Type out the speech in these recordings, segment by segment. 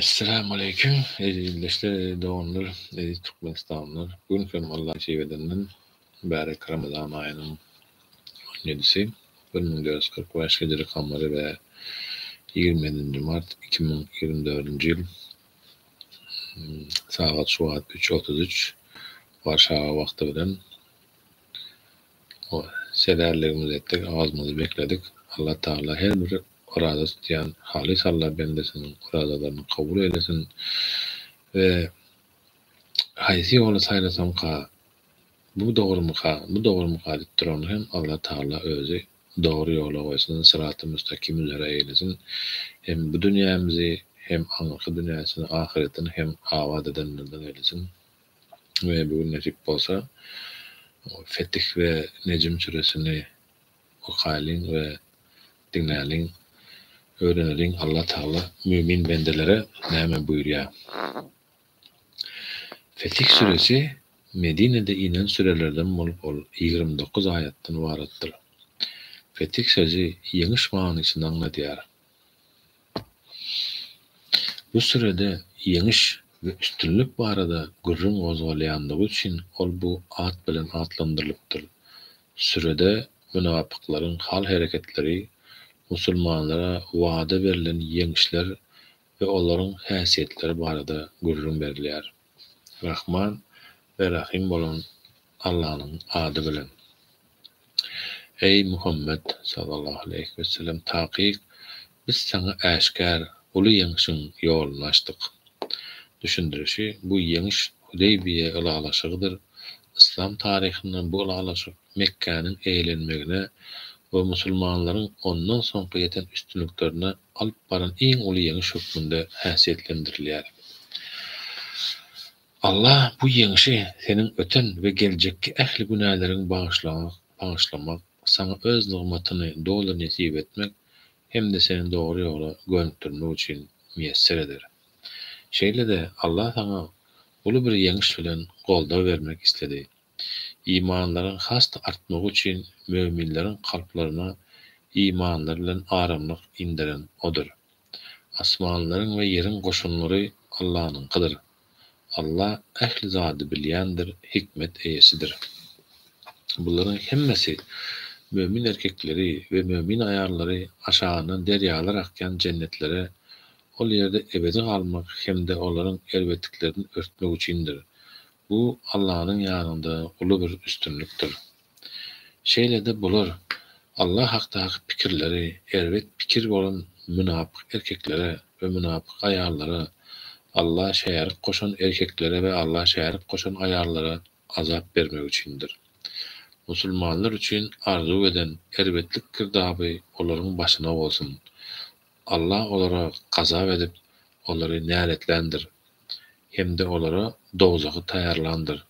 Esselamu aleýkum eziz ildeşler, eziz doganlar, eziz türkmenistanlylar. Bu gün hem Allah nesip edenden mübärek Ramazan aýynyň on ýedisi, bir müň dört ýüz kyrk bäş hijri kamary we ýigrimi nji mart iki müň ýigrimi dördünji ýyl sagat şu wagt üç otuz üç Warşawa wagty bilen O, Sezerligimizi etdik, awazymyzy bekledik. Alla Tagala her bir oraza tutýan halys Alla bendesiniň orazalaryny kabul eýlesin we haýsy ýoly saýlasaňka, bu dogrumyka, bu dogrumyka diýip durany hem Alla Tagala özi dogry ýola goýsun, syraty müstakim üzere eýlesin, hem bu dünýämizi, hem aňyrky dünýäsini, ahyretini hem abat edenlerden eýlesin. we bu gün nesip bolsa Fetih we Nejm süresini okaýlyň we diňläliň, öwreneliň Allah Tagala mümin bendelere näme buýurýar. Fetih süresi Medinede inen sürelerden bolup ol ýigrimi dokuz aýatdan ybaratdyr. Fetih sözi ýeňiş manysyny aňladýar. Bu sürede ýeňiş we üstünlik barada gürrüň gozgalýanlygy üçin ol bu at bilen atlandyrylypdyr. Sürede mynapyklaryň hal-hereketleri, musulmanlara wada berlen ýeňişler we olaryň häsiýetleri barada gürrüň berilýär. Rahman we Rahym bolan Allanyň ady bilen. Eý, Muhammet, sallallahu aleýhi wesellem, takyk, biz saňa äşgär, uly ýeňşiň ýoluny açdyk. Düşündirişi, bu ýeňiş Hudeýbiýe ylalaşygydyr. Yslam taryhynda bu ylalaşyk Mekgäniň eýelenmegine we musulmanlaryň ondan soňky ýeten üstünliklerine alyp baran iň uly ýeňiş hökmünde häsiýetlendirilýär. Alla bu ýeňşi seniň öten we geljekki ähli günäleriňi bagyşlamak, saňa Öz nygmatyny doly nesip etmek hem-de seni dogry ýola gönükdirmek üçin miýesser eder. Şeýle-de Alla saňa uly bir ýeňiş bilen goldaw bermek isledi. Imanlaryň has-da artmagy üçin möminleriň kalplaryna imanlary bilen aramlyk inderen Odur. Asmanlaryň we ýeriň goşunlary Allanyňkydyr. Alla ähli zady bilýändir, hikmet eýesidir. Bularyň hemmesi, mömin erkekleri we mömin aýallary aşagyndan derýalar akýan jennetlere, ol ýerde ebedi galmak hem-de olaryň erbetliklerini örtmek üçindir. Bu Allanyň ýanynda uly bir üstünlikdir. Şeýle-de bular Alla hakdaky pikirleri erbet pikir bolan mynapyk erkeklere we mynapyk aýallara, Alla şärik goşan erkeklere we Alla şärik goşan aýallara azap bermek üçindir. Musulmanlar üçin arzuw eden erbetlik girdaby olaryň başyna bolsun! Allah olara gazap edip, olary näletländir hem-de olara dowzahy taýýarlandyr.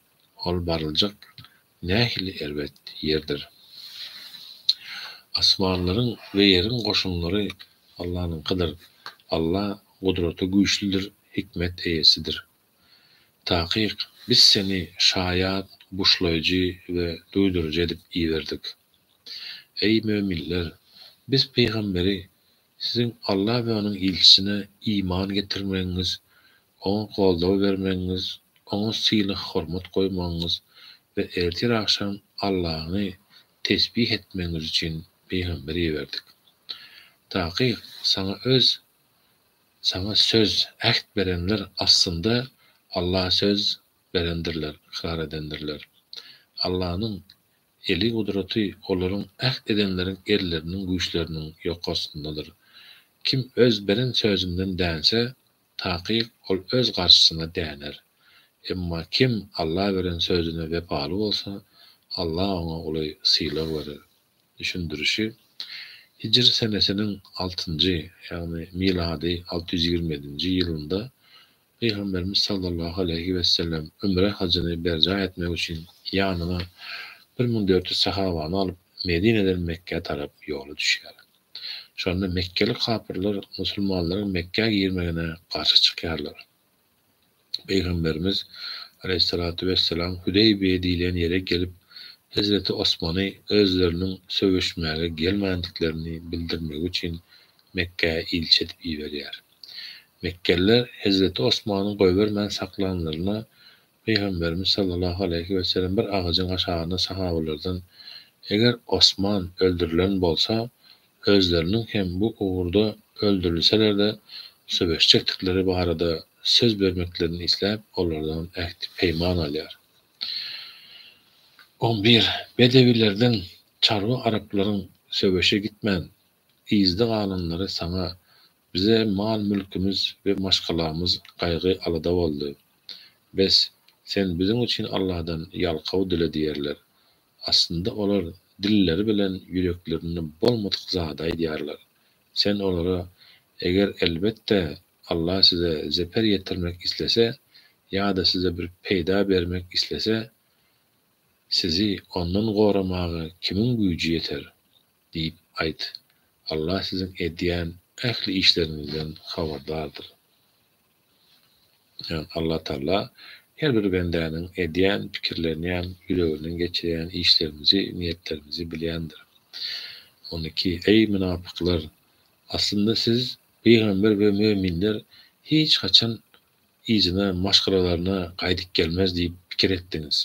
Ol baryljak nähili erbet ýerdir! Asmanlaryň we ýeriň goşunlary Allanyňkydyr. Allah gudrata güýçlüdir, hikmet eýesidir. Takyk, biz seni şaýat, buşlaýjy we duýduryjy edip iberdik. Eý, möminler! Biz pygamberi siziň Alla we onuň ilçisine iman getirmegiňiz, oňa goldaw bermegiňiz, oňa sylag-hormat goýmagyňyz we ertir-agşam Allany tesbih etmegiňiz üçin pygamber iberdik. Takyk, saňa öz Saňa söz, äht berenler aslynda Allaha söz berendirler, ykrar edendirler. Allanyň eli, gudraty olaryň, äht edenleriň elleriniň, güýçleriniň ýok astyndadyr. Kim öz beren sözünden dänse, takyk, ol öz garşysyna däner. Emma kim Alla beren sözüne wepaly bolsa, Alla oňa uly sylag berer. düşündirişi, hijri senesiniň altynjy, ýagny milady alty ýüz ýigrimi ýedinji, ýylynda Pygamberimiz sallallahu aleýhi wesellem ümre hajyny berjaý etmek üçin ýanyna bir müň dört ýüz sahabany alyp, Medineden Mekgä tarap ýola düşýär. Şonda mekgeli kapyrlar musulmanlaryň Mekgä girmegine garşy çykýarlar. Pygamberimiz, aleýhissalatu wessalam, Hüdeýbiýe diýlen ýere gelip, hezreti Osmany özleriniň söweşmäge gelmändiklerini bildirmegi üçin Mekgä ilçi edip iberýär. Mekgeliler hezreti Osmany goýbermän saklanlaryna, Pygamberimiz sallallahu aleýhi wesellem bir agajyň aşagynda sahabalardan, Eger Osman öldürilen bolsa, özleriniň hem bu ugurda öldürilseler-de söweşjekdikleri barada söz bermeklerini isläp, olardan ähti-peýman alýar. On bir. Bedewilerden çarwa araplaryň söweşe gitmän, yzda galanlary saňa, bize mal-mülkümiz we maşgalamyz gaýgy-alada boldy. Bes, sen biziň üçin Alladan ýalkaw dile diýerler. Aslynda olar dilleri bilen ýüreklerinde bolmadyk zady aýdýarlar. Sen olara, Eger, elbetde, Allah size zeper ýetirmek islese ýa-da size bir peýda bermek islese, sizi ondan goramaga kimiň güýji ýeter? diýip aýt. Allah siziň edýän ähli işleriňizden habardardyr. Allatagala her bir bendäniň edýän, pikirlenýän, ýüreginden geçirýän işlerimizi, niýetlerimizi bilýändir. On iki, Eý, mynapyklar! Aslynda siz, pygamber we möminler, hiç haçan yzyna, maşgalalaryna gaýdyp gelmez diýip pikir etdiňiz.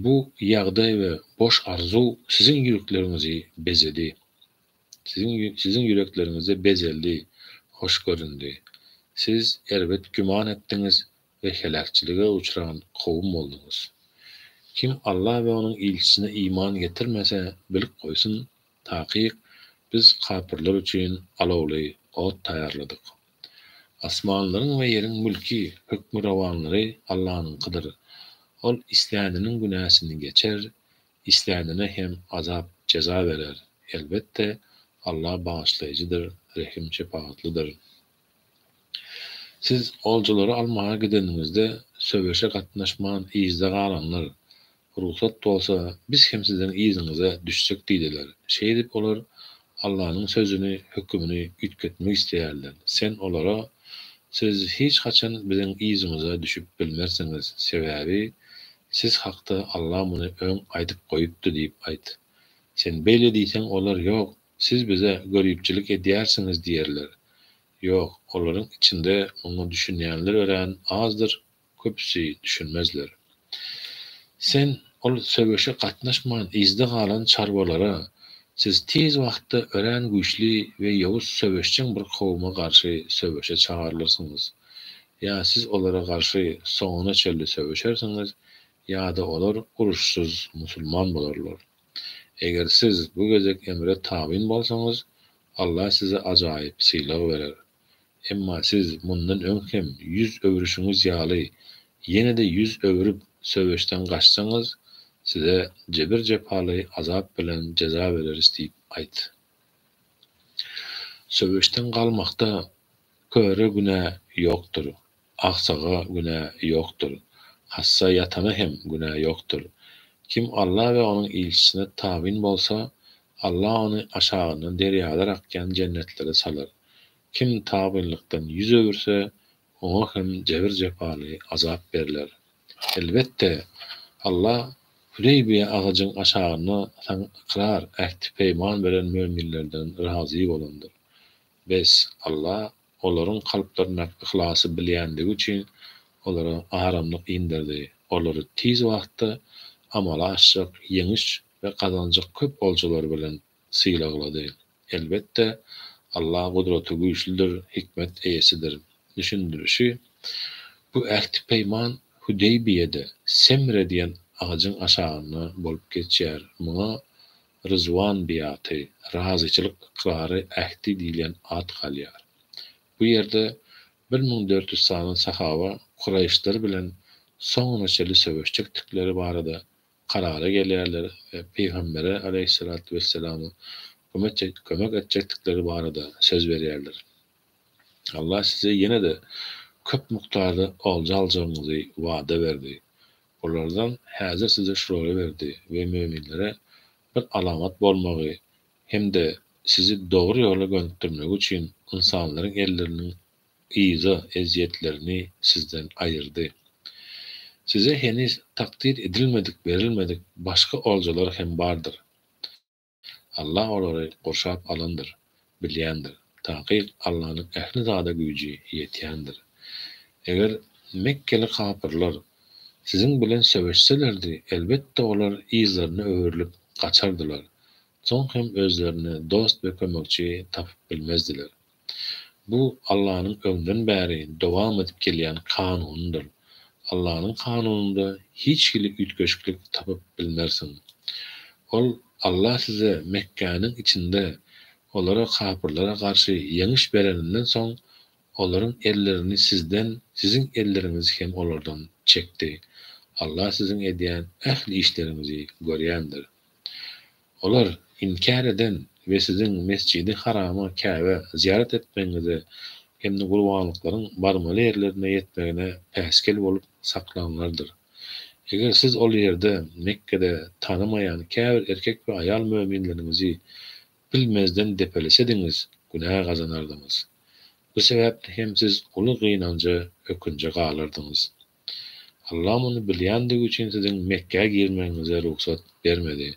Bu ýagdaý we boş arzuw siziň ýürekleriňizi bezedi. Siziň ýürekleriňizde bezeldi, hoş göründi. Siz erbet güman etdiňiz we heläkçilige uçran kowum bolduňyz. Kim Alla we Onuň ilçisine iman getirmese, bilip goýsun, takyk, Biz kapyrlar üçin alawly ot taýýarladyk. Asmanlaryň we ýeriň mülki, hökmürowanlary Allanyňkydyr. Ol isläniniň günäsini geçer, Islänine hem azap, jeza berer. Elbetde, Allah Bagyşlaýjydyr, Rehim, Şepagatlydyr. Siz oljalary almaga gideniňizde, söweşe gatnaşman yzda galanlar, Rugsat bolsa, biz hem siziň yzyňyza düşsek diýdiler. Şeýdip, olar Allanyň sözüni, hökümini üýtgetmek isleýärler. Sen olara, Siz hiç haçan biziň yzymyza düşüp bilmersiňiz, sebäbi Siz hakda Alla muny öň aýdyp goýupdy diýip aýt. Sen beýle diýseň olar ýok, siz bize göripçilik edýärsiňiz diýerler. Ýok, olaryň içinde muňa düşünýänler örän azdyr, köpüsi düşünmezler. Sen ol söweşe gatnaşman yzda galan çarwalara, Siz tiz wagtda örän güýçli we ýowuz söweşjeň bir kowuma garşy söweşe çagarylyrsyňyz. Ýa siz olara garşy soňuna çenli söweşersiňiz, ýa-da olar uruşsyz musulman bolarlar. Eger siz bu gezek emre tabyn bolsaňyz, Allah size ajaýyp sylag berer. Emma siz mundan öň hem ýüz öwrüşiňiz ýaly, ýene-de ýüz öwrüp, söweşden gaçsaňyz, size jebir-jepaly azap bilen jeza bereris diýip aýt. Söweşden galmakda köre günä ýokdur, agsaga günä ýokdur, hassa ýatana hem günä ýokdur. Kim Alla we Onuň ilçisine tabyn bolsa, Alla ony aşagyndan derýalar akýan jennetlere salar. Kim tabynlykdan ýüz öwürse, Oňa hem jebir-jepaly azap berler. Elbetde, Alla Hudeýbiýe agajyň aşagynda saňa ykrar, ähti-peýman beren möminlerden razy bolandyr. Bes, Alla olaryň kalplaryndaky yhlasy bilýändigi üçin olara aramlyk inderdi, olary tiz wagtda amala aşjak ýeňiş we gazanjak köp oljalar bilen sylaglady. Elbetde, Alla gudratygüýçlidir, hikmet eýesidir. Düşündirişi, Bu ähti-peýman Hüdeýbiýede Semre diýen agajyň aşagynda bolup geçýär. Muňa Ryzwan biaty, razyçylyk ykrary, ähti diýilýän at galýar. Bu ýerde bir müň dört ýüz sany sahaba Kuraýyşlar bilen soňuna çenli söweşjekdikleri barada karara gelýärler we pygambere aleýhissalatu wesselama kömek etjekdikleri barada söz berýärler. Allah size ýene-de köp mukdarda olja aljagyňyzy wada berdi. Olardan häzir size şulary berdi we möminlere bir alamat bolmagy hem-de sizi dogry ýola gönükdirmegi üçin ynsanlaryň elleriniň Yza ezýetlerini sizden aýyrdy. Size heniz takdyr edilmedik, berilmedik başga oljalar hem bardyr. Allah olary gurşap alandyr, bilýändir. Takyk Allanyň ähli zada güýji ýetýändir. Eger mekgeli kapyrlar siziň bilen söweşselerdi, elbetde olar yzlaryna öwrülip gaçardylar, soň hem özlerine dost we kömekçi tapyp bilmezdiler. Bu Allanyň öňden bäri dowam edip gelýän kanunydyr. Allanyň kanunynda hiç hili üýtgeşiklik tapyp bilmersiň. Ol, Alla size Mekgäniň içinde olara, kapyrlara, garşy ýeňiş bereninden soň, olaryň ellerini sizden, siziň elleriňizi hem olardan çekdi. Alla siziň edýän ähli işleriňizi görýändir. Olar inkär eden we siziň Mesjidi Harama, Käbä, zyýarat etmegiňize hem-de gurbanlyklaryň barmaly ýerlerine ýetmegine päsgel bolup saklanlardyr. Eger siz ol ýerde, Mekgede, tanymaýan käbir erkek we aýal möminleriňizi bilmezden depelesediňiz, günä gazanardyňyz. Bu sebäpli hem siz uly gynanja, ökünje galardyňyz. Allah muny bilýändigi üçin siziň Mekgä girmegiňize rugsat bermedi.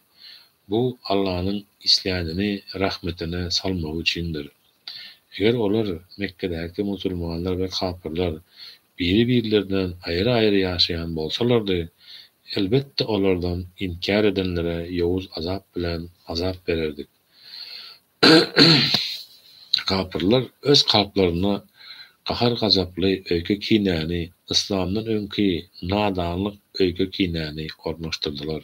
Bu Allanyň islänini rahmetine salmagy üçindir. Eger olar, Mekgedäki musulmanlar we kapyrlar, biri-birlerinden aýry-aýry ýaşaýan bolsalardy, elbetde olardan inkär edenlere ýowuz azap bilen azap bererdik. Kapyrlar öz kalplarynda gahar-gazaply öýke-kinäni, yslamdan öňki nadanlyk öýke-kinäni ornaşdyrdylar.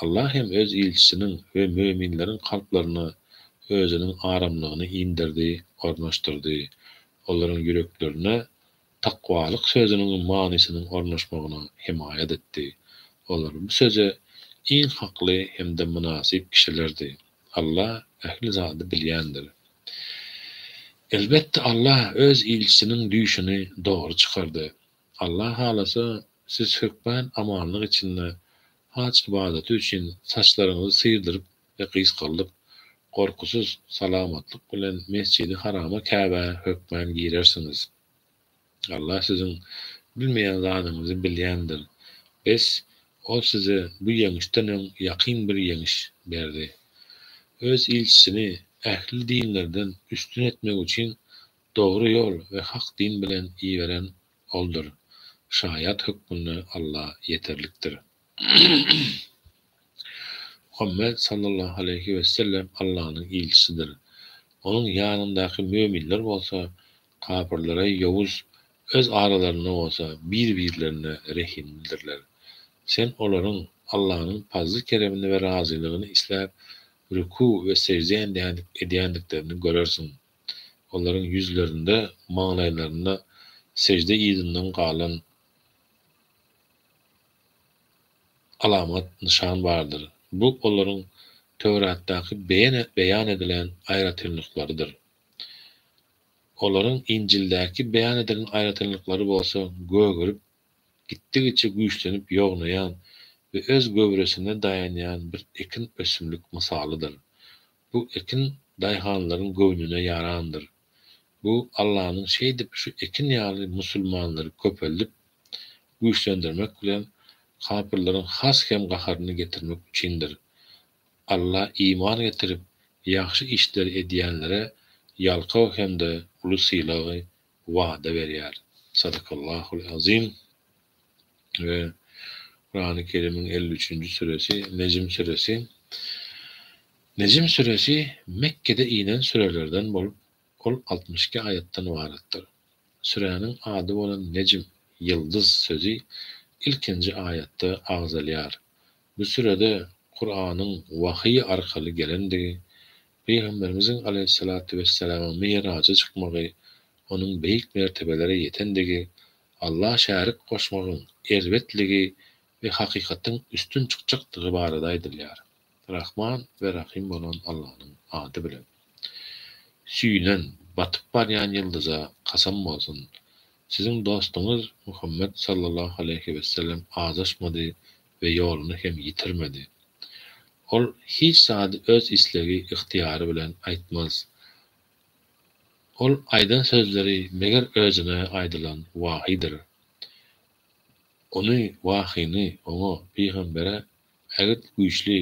Allah hem Öz ilçisiniň we möminleriň kalplaryna Özüniň aramlygyny inderdi, ornaşdyrdy. Olaryň ýüreklerine takwalyk sözüniň manysynyň ornaşmagyna hemaýat etdi. Olar bu söze iň hakly hem-de mynasyp kişilerdi. Allah ähli zady bilýändir. Elbetde, Allah Öz ilçisiniň düýşüni dogry çykardy. Allah halasa, siz hökmän amanlyk içinde haj ybadaty üçin saçlaryňyzy syrdyryp we gysgaldyp, gorkusyz, salamatlyk bilen Mesjidi Harama, Käbä, hökmän girersiňiz. Allah siziň bilmeýän zadyňyzy bilýändir. Bes, Ol size bu ýeňişden öň ýakyn bir ýeňiş berdi. Öz ilçisini ähli dinlerden üstün etmek üçin dogry ýol we hak din bilen iberen Oldur. Şaýat hökmünde Allah ýeterlikdir. Muhammet sallallahu aleýhi wesellem Allanyň ilçisidir. Onuň ýanyndaky möminler bolsa kapyrlara ýowuz, öz aralarynda bolsa bir-birlerine rehimlidirler. Sen olaryň Allanyň pazly-keremini we razylygyny isläp, rükû we sežde edýändiklerini görersiň. Olaryň ýüzlerinde, maňlaýlarynda sežde yzyndan galan. alamat, nyşan bardyr. Bu olaryň Töwratdaky beýan edilen aýratynlyklarydyr. Olaryň Injildäki beýan edilen aýratynlyklary bolsa gögerip, gitdigiçe güýçlenip ýognaýan we öz göwresine daýanýan bir ekin ösümlik mysalydyr. Bu ekin daýhanlaryň göwnüne ýarandyr. Bu Allanyň şeýdip şu ekin ýaly musulmanlary köpeldip, güýçlendirmek bilen kapyrlaryň has hem gaharyny getirmek üçindir. Alla iman getirip, ýagşy işleri edýänlere ýalkaw hem-de uly sylagy wada berýär. Sadakallahul azim. we Kurany Kerimiň elli üçünji süresi, Nejm süresi. Nejm süresi Mekgede inen sürelerden bolup, ol altmyş iki aýatdan ybaratdyr. Süräniň ady bolan Nejm, ýyldyz, sözi ilkinji aýatda agzalýar. Bu sürede Kuranyň wahyý arkaly gelendigi Pygamberimiziň aleýhissalatu wessalamyň Mi'raja çykmagy, onuň beýik mertebelere ýetendigi, Allaha şärik goşmagyň erbetligi we hakykatyň üstün çykjakdygy barada aýdylýar, Rahman we Rahym bolan Allanyň ady bilen. Süýnen, batyp barýan ýyldyza kasam bolsun, siziň dostuňyz Muhammet sallallahu aleýhi wessellem azaşmady we ýoluny hem ýitirmedi. Ol hiç zady öz islegi, ygtyýary bilen aýtmaz. Ol aýdan sözleri meger özüne aýdylan wahydyr. Ony, wahyny, oňa, pygambere, ägirt güýçli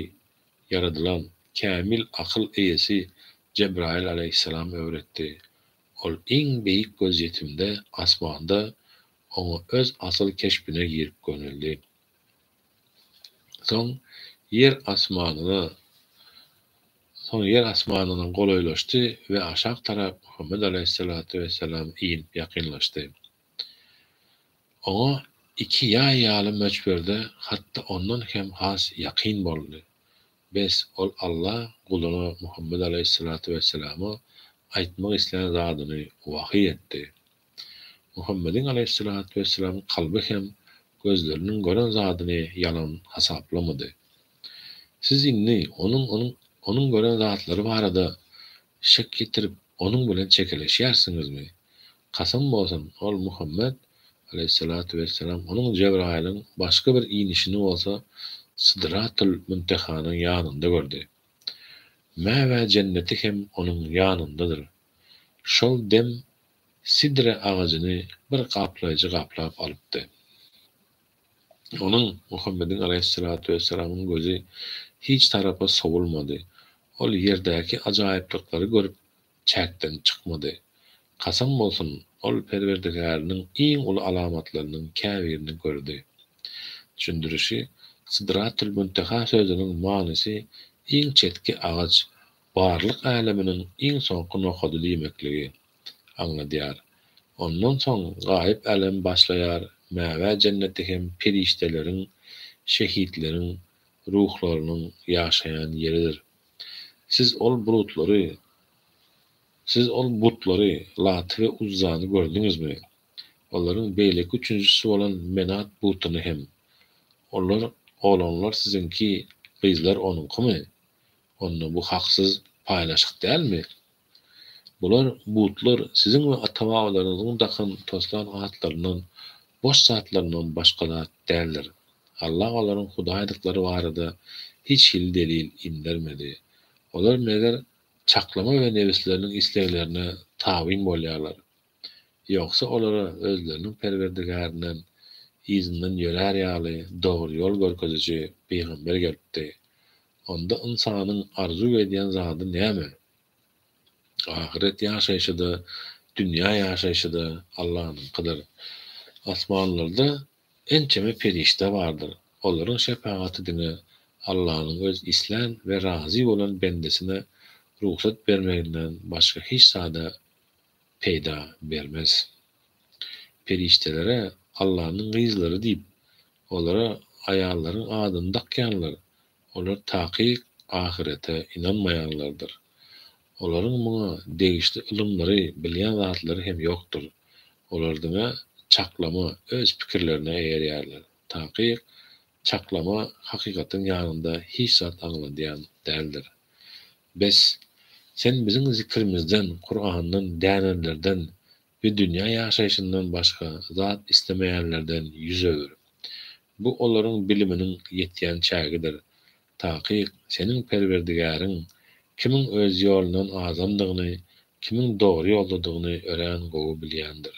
ýaradylan, kämil akyl eýesi Jebraýyl alaýhyssalam öwretdi. Ol iň beýik gözýetimde, asmanda, oňa öz asyl keşbine girip göneldi. Soň ýer asmanyna, soň ýer asmanyna golaýlaşdy we aşak tarap Muhammet alaýhyssalatu wessalam inip ýakynlaşdy. Oňa iki ýaý ýaly möçberde hatda ondan hem has ýakyn boldy. Bes, ol Alla guluna Muhammet alaýhyssalatu wessalama aýtmak islän zadyny wahyý etdi. Muhammediň alaýhyssalatu wessalam kalby hem gözleriniň gören zadyny ýalan hasaplamady. Siz indi onuň onuň gören zatlary barada şek ýetirip, onuň bilen çekeleşýärsiňizmi? Kasam bolsun, ol, Muhammet, alaýhyssalatu wessalam, onuň, Jebraýylyň, başga bir inişini bolsa Sidratul Müntehanyň ýanynda gördi. Mäwä jenneti hem onuň ýanyndadyr. Şol dem Sidre agajyny bir gaplaýjy gaplap alypdy. Onuň, Muhammediň alaýhyssalatu wessalamyň, gözi hiç tarapa sowulmady. Ol ýerdäki ajaýyplyklary görüp, çäkden çykmady. Kasam bolsun, ol Perwerdigärynyň iň uly alamatlarynyň käbirini gördi. Düşündirişi, Sidratül-Münteha sözüniň manysy iň çetki agaç, barlyk äleminiň iň soňky nokady diýmekligi aňladýar. Ondan soň gaýyp älem başlaýar, Mäwä jenneti hem perişdeleriň, şehitleriň ruhlarynyň ýaşaýan ýeridir. Siz ol bulutlary, siz ol butlary, Laty we Uzzany gördüňizmi? Olaryň beýleki üçünjisi bolan Menat butuny hem. Olar, oglanlar siziňki, gyzlar onuňkymy? Onda bu haksyz paýlaşyk dälmi? Bular, butlar siziň we ata-babalaryňyzyň dakan, toslan atlaryndan, boş zatlaryndan başga zat däldir. Allah olaryň hudaýdyklary barada hiç hili delil indermedi. Olar, meger, çaklama we nebisleriniň isleglerine tabyn bolýarlar. Ýogsa olara özleriniň Perwerdigärinden yzyndan ýörär ýaly dogry ýol görkeziji pygamber gelipdi. Onda ynsanyň arzuw edýän zady näme? Ahyret ýaşaýşy-da, dünýä ýaşaýşy-da Allanyňkydyr. Asmanlarda ençeme perişde bardyr. Olaryň şepagaty diňe Allanyň öz islän we razy bolan bendesine rugsat bermeginden başga hiç zada peýda bermez. Perişdelere Allanyň gyzlary diýip, olara aýallaryň adyny dakýanlar, olar takyk ahyrete ynanmaýanlardyr. Olaryň muňa degişli ylymlary, bilýän zatlary hem ýokdur. Olar diňe çaklama öz pikirlerine eýerýärler. Takyk çaklama hakykatyň ýanynda hiç zat aňladýan däldir. Bes, sen biziň zikrimizden, Kurandan, dänenlerden we dünýä ýaşaýşyndan başga zat islemeýänlerden ýüz öwür. Bu olaryň biliminiň ýetýän çägidir. Takyk, seniň Perwerdigäriň kimiň öz ýolundan azandygyny, kimiň dogry ýoldadygyny örän gowy bilýändir.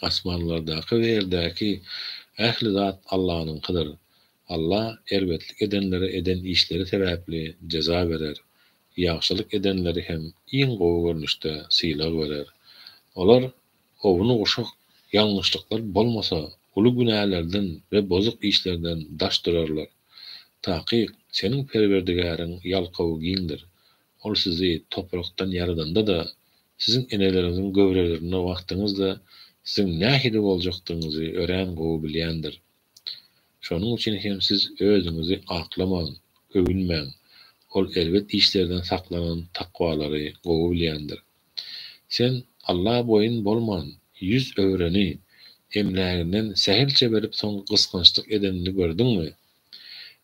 Asmanlardaky we ýerdäki ähli zat Allanyňkydyr. Alla erbetlik edenlere eden işleri sebäpli jeza berer, ýagşylyk edenleri hem iň gowy görnüşde sylag berer. Olar owuny guşak ýalňyşlyklar bolmasa, uly günälerden we bozuk işlerden daş durarlar. Takyk, seniň Perwerdigäriň ýalkawy giňdir. Ol sizi toprakdan ýaradanda-da, siziň eneleriňiziň göwrelerinde wagtyňyzda siziň nähili boljakdygyňyzy örän gowy bilýändir. Şonuň üçin hem siz özüňizi aklamaň, öwünmäň. Ol erbet işlerden saklanan takwalary gowy bilýändir. Sen Alla boýun bolman, ýüz öwreni, emläginden sähelçe berip soň gysgançlyk edenini gördüňmi?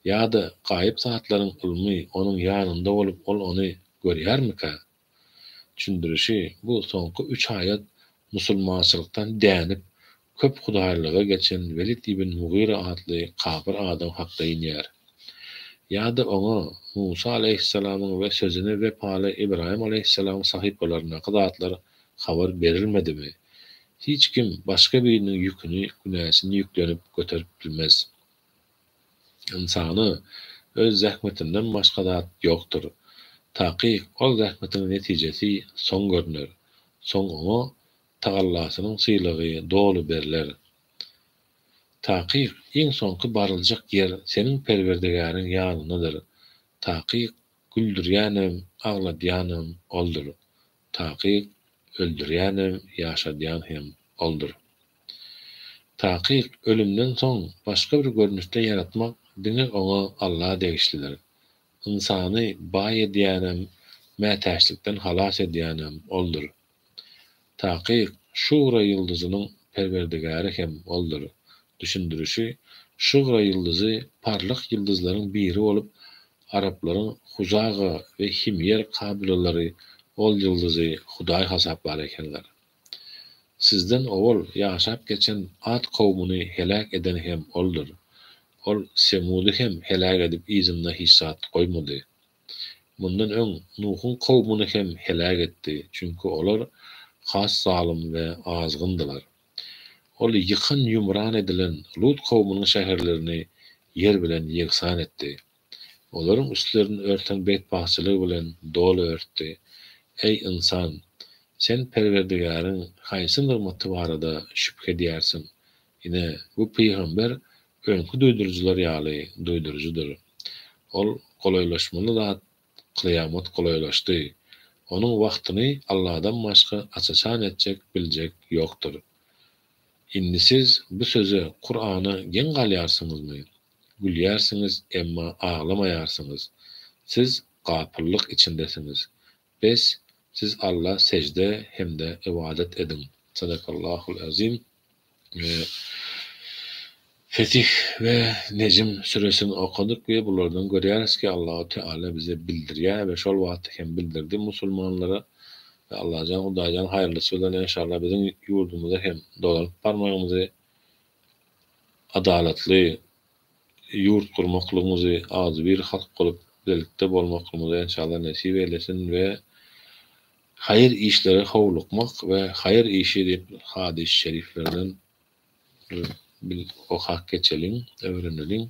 Ýa-da gaýyp zatlaryň ylmy onuň ýanynda bolup ol ony görýärmikä? Çündirişi, bu soňky üç aýat musulmançylykdan dänip köp hudaýlyga geçen Welid ibn Mugyra atly kapyr adam hakda inýär. Ýa-da oňa Musa alaýhyssalamyň we sözüne wepaly Ybraýym alaýhyssalamyň sahypalaryndaky zatlar habar berilmedimi? Hiç kim başga biriniň ýüküni, günäsini ýüklenip göterip bilmez. Ynsana öz zähmetinden başga zat ýokdur. Takyk ol zähmetiň netijesi soň görner. Soň oňa tagallasynyň sylagy doly berler. Takyk iň soňky baryljak ýer seniň Perwerdegäriň ýanyndadyr. Takyk güldürýänem, agladýanam Oldur. Takyk, öldürýänem, ýaşadýan hem Oldur. Takyk, ölümden soň başga bir görnüşde ýaratmak diňe Oňa, Alla, degişlidir. Ynsany baý edýänem, mätäçlikden halas edýänem Oldur. Takyk, Şugra ýyldyzynyň Perwerdigäri hem Oldur. Düşündirişi, Şugra ýyldyzy parlak ýyldyzlaryň biri bolup, Araplaryň Hujaga we Himýer kabylelary ol ýyldyzy hudaý hasaplar ekenler. Sizden owal ýaşap geçen At kowmuny heläk eden hem Oldur. Ol Semudy hem heläk edip yzynda hiç zat goýmady. Mundan öň Nuhuň kowmuny hem heläk etdi, çünki olar has zalym we azgyndylar. Ol ýykan-ýumran edilen Lut kowumynyň şäherlerini ýer bilen ýegsan etdi. Olaryň üstlerini örten betbagtçylygy bilen doly örtdi. Eý, ynsan! Sen Perwerdigäriň haýsy nygmaty barada şübhe edýärsiň? Ine, bu pygamber öňki duýduryjylar ýaly duýduryjydyr. Ol golaýlaşmaly zat Kyýamat golaýlaşdy. Onuň wagtyny Alladan başga aç-açan etjek, biljek ýokdur. Indi siz bu söze, Kur'ana geň galýarsyňyzmy? Gülýärsiňiz, emma aglamaýarsyňyz. Siz gapyllyk içindesiňiz. Bes, siz Alla sejde hem-de ybadat ediň. Sadakallahul azim. Fetih we Nejm süresini okadyk we bulardan görýäris ki Allahu Teala bize bildirýär we şol wagtda hem bildirdi musulmanlara we Allajan Hudaýjan haýyrlysy bilen enşalla biziň ýurdumyza hem dolanyp barmagymyzy adalatly ýurt gurmaklygymyzy agzybir halk bolup bilelikde bolmaklymyzy enşalla nesip eýlesin we Haýyr işlere howlukmak we haýyr işi diýip hadys-y şeriflerden bir okap geçeliň, öwreneliň.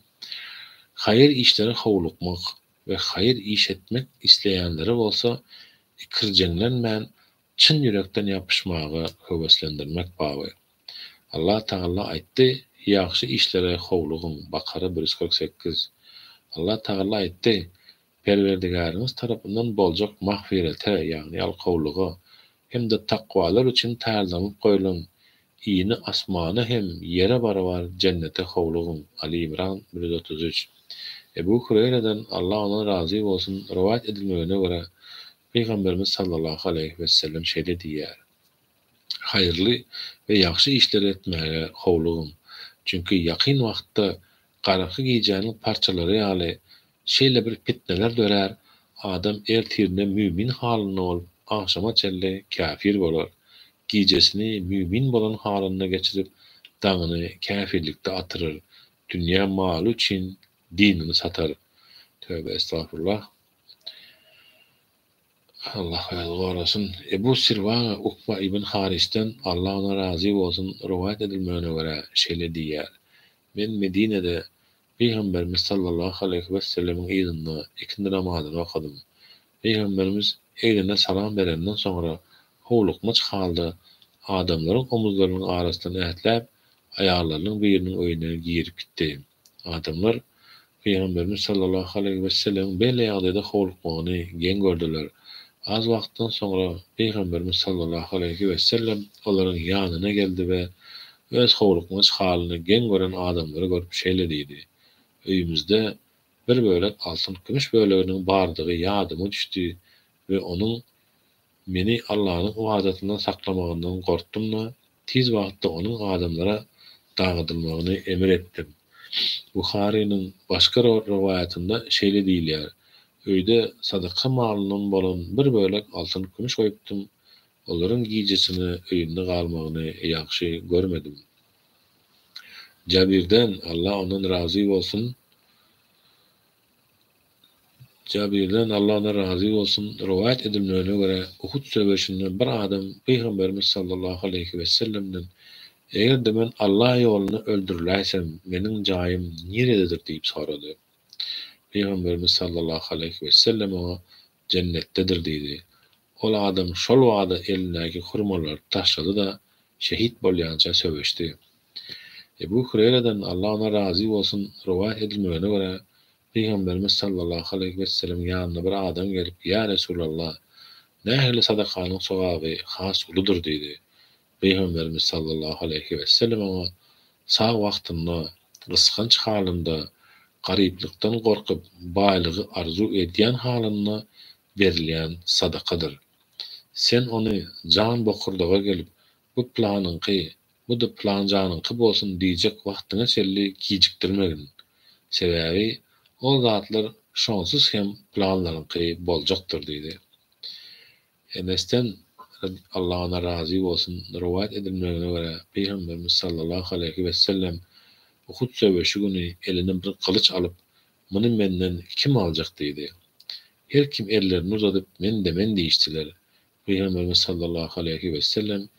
Haýyr işlere howlukmak we haýyr iş etmek isleýänleri bolsa ikirjeňlenmän çyn ýürekden ýapyşmaga höweslendirmek baby. Allah Tagalla aýtdy, Ýagşy işlere howlugyň, Bakara bir ýüz kyrk sekiz. Allah Tagalla aýtdy, Perwerdigäriňiz tarapyndan boljak magfirete, ýagny ýalkawlyga, hem-de takwalar üçin taýýarlanyp goýlan Ini asmana hem ýere barabar Jennete howlugyň, Aly Imran, bir ýüz otuz üç. Ebu Hureýreden, Allah ondan razy bolsun, rowaýat edilmegine görä, Pygamberimiz sallallahu aleýhi wesellem şeýle diýýär, Haýyrly we ýagşy işleri etmäge howlugyň, çünki ýakyn wagtda garaňky gijäniň parçalary ýaly Şeýle bir pitneler dörär, adam ertirine mümin halynda bolup, agşama çenli käfir bolar. Gijesini mümin bolan halynda geçirip, daňyny käfirlikde atyryr, dünýä maly üçin dinini satar. Töbe estagfurullah. Allah özi gorasyn. Ebu Sirwaga Ukba ibn Harisden, Allah ondan razy bolsun, rowaýat edilmegine görä, şeýle diýýär, Men Medinede Pygamberimiz sallallahu aleýhi wesellemiň yzynda ikindi namazyny okadym. Pygamberimiz egnine salam berenden soňra howlukmaç halda adamlaryň omuzlarynyň arasyndan ätläp, aýallarynyň biriniň öýüne girip gitdi. Adamlar Pygamberimiz sallallahu aleýhi wesellemiň beýle ýagdaýda howlukmagyny geň gördüler. Az wagtdan soňra Pygamberimiz sallallahu aleýhi wesellem olaryň ýanyna geldi we Öz howlukmaç halyny geň gören adamlary görüp şeýle diýdi, Öýümizde bir bölek altyn-kümüş böleginiň bardygy ýadyma düşdi we onuň meni Allanyň ybadatyndan saklamagyndan gorkdum-da, tiz wagtda onuň adamlara dagydylmagyny emir etdim. Buharynyň başga bir rowaýatynda şeýle diýilýär, Öýde sadaka malyndan bolan bir bölek altyn-kümüş goýupdym, Olaryň gijesine öýünde galmagyny ýagşy görmedim. Jabirden, Allah ondan razy bolsun, Jabirden, Allah ondan razy bolsun, rowaýat edilmegine görä, Uhud söweşinde bir adam Pygamberimiz sallallahu aleýhi wessellemden, Eger-de men Allah ýolunda öldüriläýsem, meniň jaýym nirededir diýip sorady. Pygamberimiz sallallahu aleýhi wessellem oňa, jennetdedir diýdi. Ol adam şol bada elindäki hurmalary taşlady-da, şehit bolýança söweşdi. Ebu Hureýreden, Allah ondan razy bolsun, rowaýat edilmegine görä, Pygamberimiz sallallahu aleýhi wesselemiň ýanyna bir adam gelip, Ýa Resulallah! Nähili sadakanyň sogaby has uludyr? diýdi. Pygamberimiz sallallahu aleýhi wesellem oňa sag wagtynda, gysganç halynda, garyplykdan gorkup, baýlygy arzuw edýän halynda berilýän sadakadyr. Sen ony jan bokurdaga gelip, bu planyňky, bu-da planjanyňky bolsun diýjek wagtyňa çenli gijikdirmegin. Sebäbi ol zatlar şonsuz hem planlaryňky boljakdyr diýdi. Enesden, radi, Allah ondan razy bolsun, rowaýat edilmegine görä, Pygamberimiz sallallahu aleýhi wessellem Uhud söweşi güni eline bir gylyç alyp, Muny menden kim aljak diýdi. Her kim ellerini uzadyp, Men-de, men diýişdiler. Pygamberimiz sallallahu aleýhi wessellem,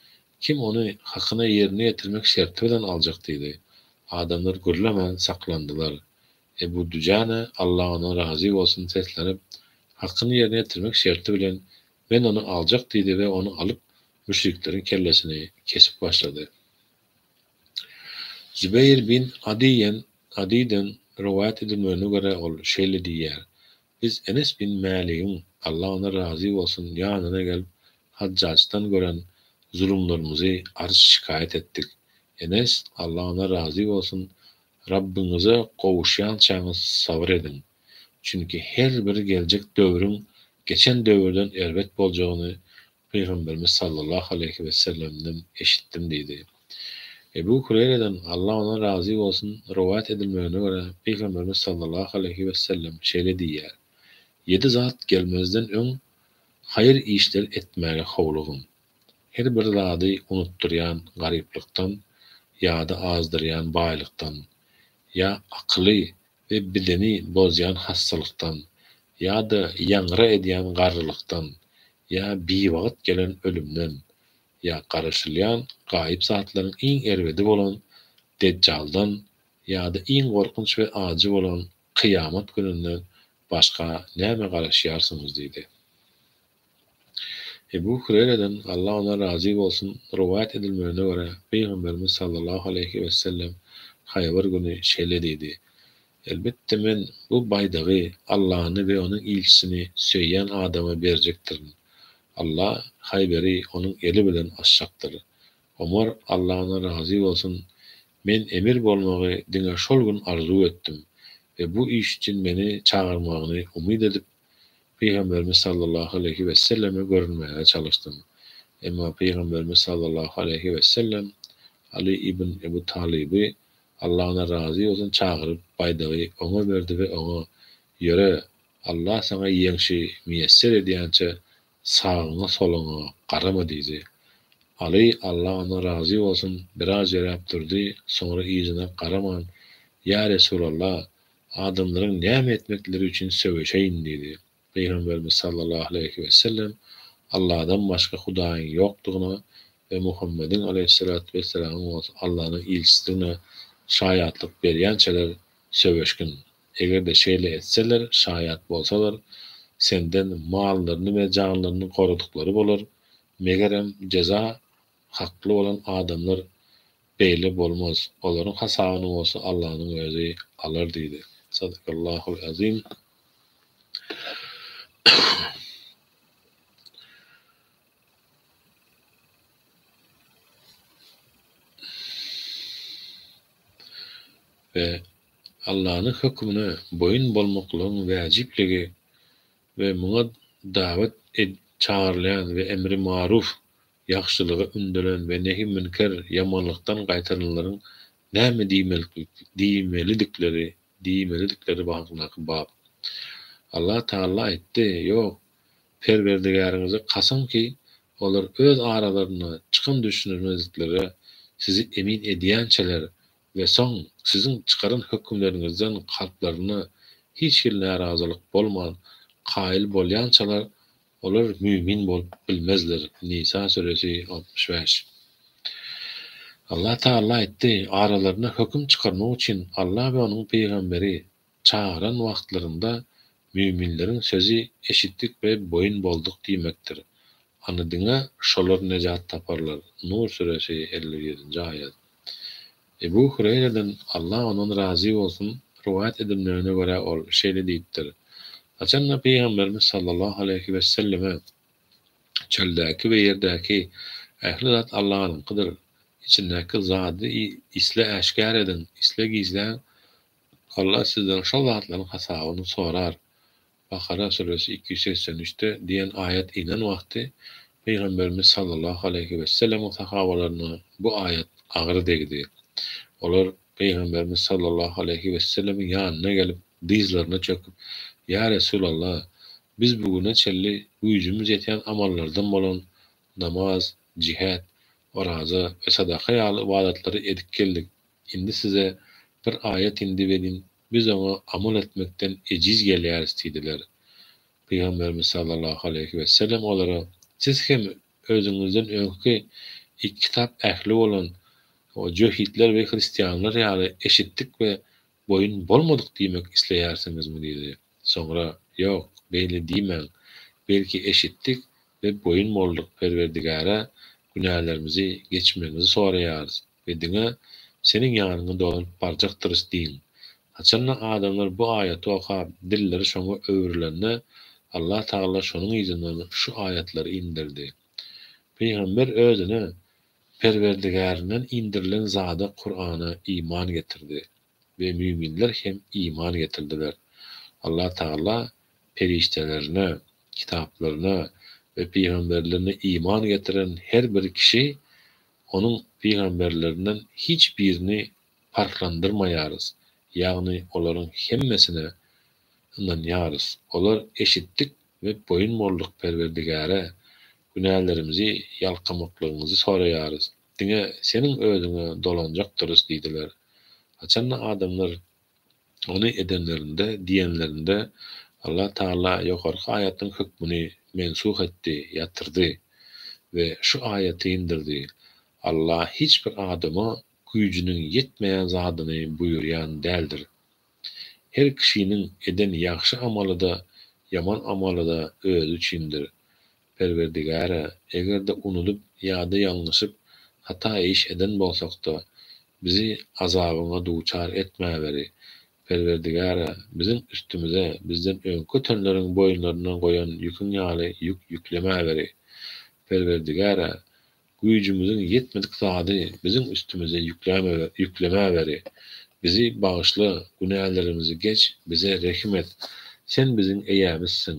Kim ony hakyna ýerine ýetirmek şerti bilen aljak diýdi. Adamlar gürlemän saklandylar. Ebu Dujana, Allah ondan razy bolsun, seslenip, Hakkyny ýerine ýetirmek şerti bilen, men ony aljak diýdi we ony alyp, müşrikleriň kellesini kesip başlady. Zübeýir bin Adiýen, Adyden, rowaýat edilmegine görä, ol şeýle diýýär, Biz Enes bin Mäligiň, Allah ondan razy bolsun, ýanyna gelip, Hajjajdan gören zulumlarymyzy arz-şikaýat etdik. Enes, Allah ondan razy bolsun, Rabbyňyza gowuşýançaňyz sabyr ediň, çünki her bir geljek döwrüň geçen döwürden erbet boljagyny Pygamberimiz sallallahu aleýhi wesellemden eşitdim diýdi. Ebu Hureýreden, Allah ondan razy bolsun, rowaýat edilmegine görä, Pygamberimiz sallallahu aleýhi wesellem şeýle diýýär, Ýedi zat gelmezden öň haýyr işleri etmäge howlugyň. Her bir zady unutdyrýan garyplykdan ýady azdyrýan baýlykdan, ýa akyly we bideni bozýan hassalykdan, ýa-da ýaňra edýän garrylykdan, ýa biwagt gelen ölümden, ýa garaşylýan gaýyp zatlaryň iň erbedi bolan Dejjaldan ýa-da iň gorkunç we ajy bolan Kyýamat gününden başga näme garaşýarsyňyz? diýdi. Ebu Hüreýreden, Allah ondan razy bolsun, rowaýat edilmegine görä, Pygamberimiz sallallahu aleýhi wesellem Haýbar güni şeýle diýdi, Elbetde, men bu baýdagy Allany we Onuň ilçisini söýýän adama berjekdirin. Allah Haýberi onuň eli bilen açjakdyr. Omar, Allah ondan razy bolsun, Men emir bolmagy diňe şol gün arzuw etdim we bu iş üçin meni çagyrmagyny umyt edip, Pygamberimiz sallallahu aleýhi wesselleme görünmäge çalyşdym. Emma Pygamberimiz sallallahu aleýhi wessellem Aly ibn Ebu Talyby, Allah ondan razy bolsun, çagyryp, baýdagy oňa berdi we oňa, Ýöre, Allah saňa ýeňşi miýesser edýänçä, sagyňa-soluňa garama diýdi. Aly, Allah ondan razy bolsun, biraz ýöräp durdy, soňra yzyna garaman, Ýa Resulallah, Adamlaryň näme etmekleri üçin söweşeýin diýdi. Pygamberimiz sallallahu aleýhi wesellem, Alladan başga hudaýyň ýokdugyna we Muhammediň aleýhissalatu wessalamyň bolsa Allanyň ilçidigine şaýatlyk berýänçäler söweşgin. Eger-de şeýle etseler, şaýat bolsalar, senden mallaryny we janlaryny goradyklary bolar, megerem, jeza Hakly bolan adamlar beýle bolmaz, olaryň hasabyny bolsa Allanyň özi alar diýdi. Sadakallahul azim. We Allanyň hökümine boýun bolmaklygyň wäjipligi we muňa dawet edip çagyrylýan we emri maruf Ýagşylyga ündelen we nehi münker, ýamanlykdan gaýtaranlaryň näme diýmelilikleri, diýmelidikleri hakyndaky bap. Allah Tagala aýtdy, Ýok, Perwerdigäriňize kasam ki, olar öz aralarynda çykan düşünilmezliklere sizi emin edýänçäler, We soň siziň çykaran hökümleriňizden kalplarynda hiç hili närazylyk bolman, kaýyl bolýançalar, olar mümin bolup bilmezler, Nisa süresi, altmyş bäş. Allah Tagalla aýtdy, Aralarynda höküm çykarmak üçin Allah we Onuň pygamberi, Çagyran wagtlarynda müminleriň sözi eşitdik we boýun bolduk diýmekdir. Ony diňe şolar nejat taparlar, Nur süresi, elli ýedinji aýat. Ebu Hureýreden, Allah ondan razy bolsun, rowaýat edilmegine görä ol şeýle diýipdir, Haçanda Pygamberimiz sallallahu aleýhi wesselleme, Çöldäki we ýerdäki ähli zat Allanyňkydyr, içindäki zady isle äşgär ediň, isle gizläň, Allah sizden şol zatlaryň hasabyny sorar. Bakara süresi iki ýüz segsen üçde diýen aýat inen wagty Pygamberimiz sallallahu aleýhi wesellemiň sahabalaryna bu aýat agyr degdi. Olar Pygamberimiz sallallahu aleýhi wesellemiň ýanyna gelip dyzlaryna çöküp, Ýa Resulallah, biz bu güne çenli güýjümiz ýetýän amallardan bolan namaz, jihet, oraza we sadaka ýaly ybadatlary edip geldik. Indi size bir aýat indip ediň, biz oňa amal etmekden ejiz gelýäris diýdiler. Pygamberimiz sallallahu aleýhi wesellem olara, Siz hem özüňizden öňki iki kitap ähli bolan jöhitler we hristianlar ýaly eşitdik we boýun bolmadyk diýmek isleýärsiňizmi diýdi. Soňra, Ýok, beýle diýmäň, belki eşitdik we boýun bolduk Perwerdigara günälerimizi geçmegiňizi soraýarys. we diňe Seniň ýanyňa dolanyp barjakdyrys diýiň. Haçanda adamlar bu aýaty okap, dilleri şoňa öwrülende, Allah Tagala şonuň yzyndan şu aýatlary inderdi. Pygamber özüne Perwerdigärinden indirilen zada, Kur'ana, iman getirdi we müminler hem iman getirdiler. Allah Tagala perişdelerine, kitaplaryna we pygamberlerine iman getiren her bir kişi Onuň pygamberlerinden hiç birini parhlandyrmaýarys, ýagny olaryň hemmesine ynanýarys. Olar eşitdik we boýun bolduk Perwerdigäre, günälerimizi ýalkamaklygyňyzy soraýarys, diňe Seniň özüňe dolanjakdyrys diýdiler. Haçanda adamlar Ony edenlerinde, diýenlerinde, Allah Tagala ýokarky aýatyň hökmüni mensuh etdi, ýatyrdy, we şu aýaty indirdi, Allah hiç bir adama güýjüniň ýetmeýän zadyny buýurýan däldir. Her kişiniň eden ýagşy amaly-da, ýaman amaly-da özi üçindir. Perwerdigär-ä, eger-de unudyp ýa-da ýalňyşyp, hata iş eden bolsak-da, bizi azabyňa duçar etmäweri. Perwerdigär-ä, biziň üstümize bizden öňki ötenleriň boýunlaryna goýan ýüküň ýaly ýük ýüklemäweri. Perwerdigär-ä, güýjümiziň ýetmedik zady biziň üstümize ýüklemäweri. Bizi bagyşla, günälerimizi geç, bize rehim et. Sen biziň eýämizsiň.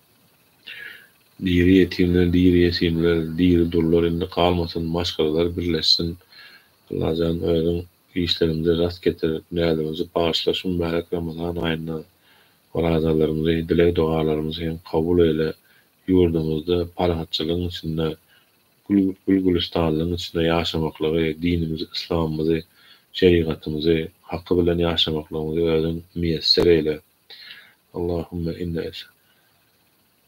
Diri ýetimler diri ýetimler diri durlar indi galmasyn maşgalalar birleşsin Allajan özüň işleriňde rast getir näzimizi bagyşla şu mübärek Ramazan aýynda orazalarymyzy dileg dogalarymyzy hem kabul eýle ýurdumyzda parahatçylygyň içinde gül gülüstanlygyň içinde ýaşamaklygy dinimizi yslamymyzy şerigatymyzy haky bilen ýaşamaklygymyzy özüň miýesser eýle. Allahümme inne es.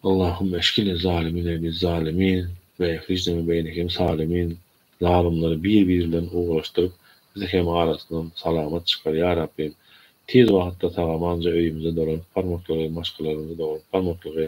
Allahümme eşkine zalimine biz zalimin ve ehrijneme beynehim salimin zalymlary bir bir bilen ugraşdyryp bizi hem arasyndan salamat çykar ya Rabbim tiz wagtda sagamanja öyümize dolanyp barmaklygy maşgalalarymyza dogrup barmaklygy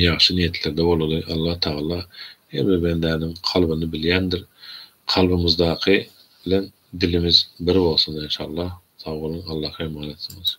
Ýagşy niýetlerde bolaly, Allah Tagala her bir bendäniň kalbyny bilýändir. Kalbymyzdaky bilen dilimiz bir bolsun enşallah. Sag boluň, Allaha emanetsyňyz.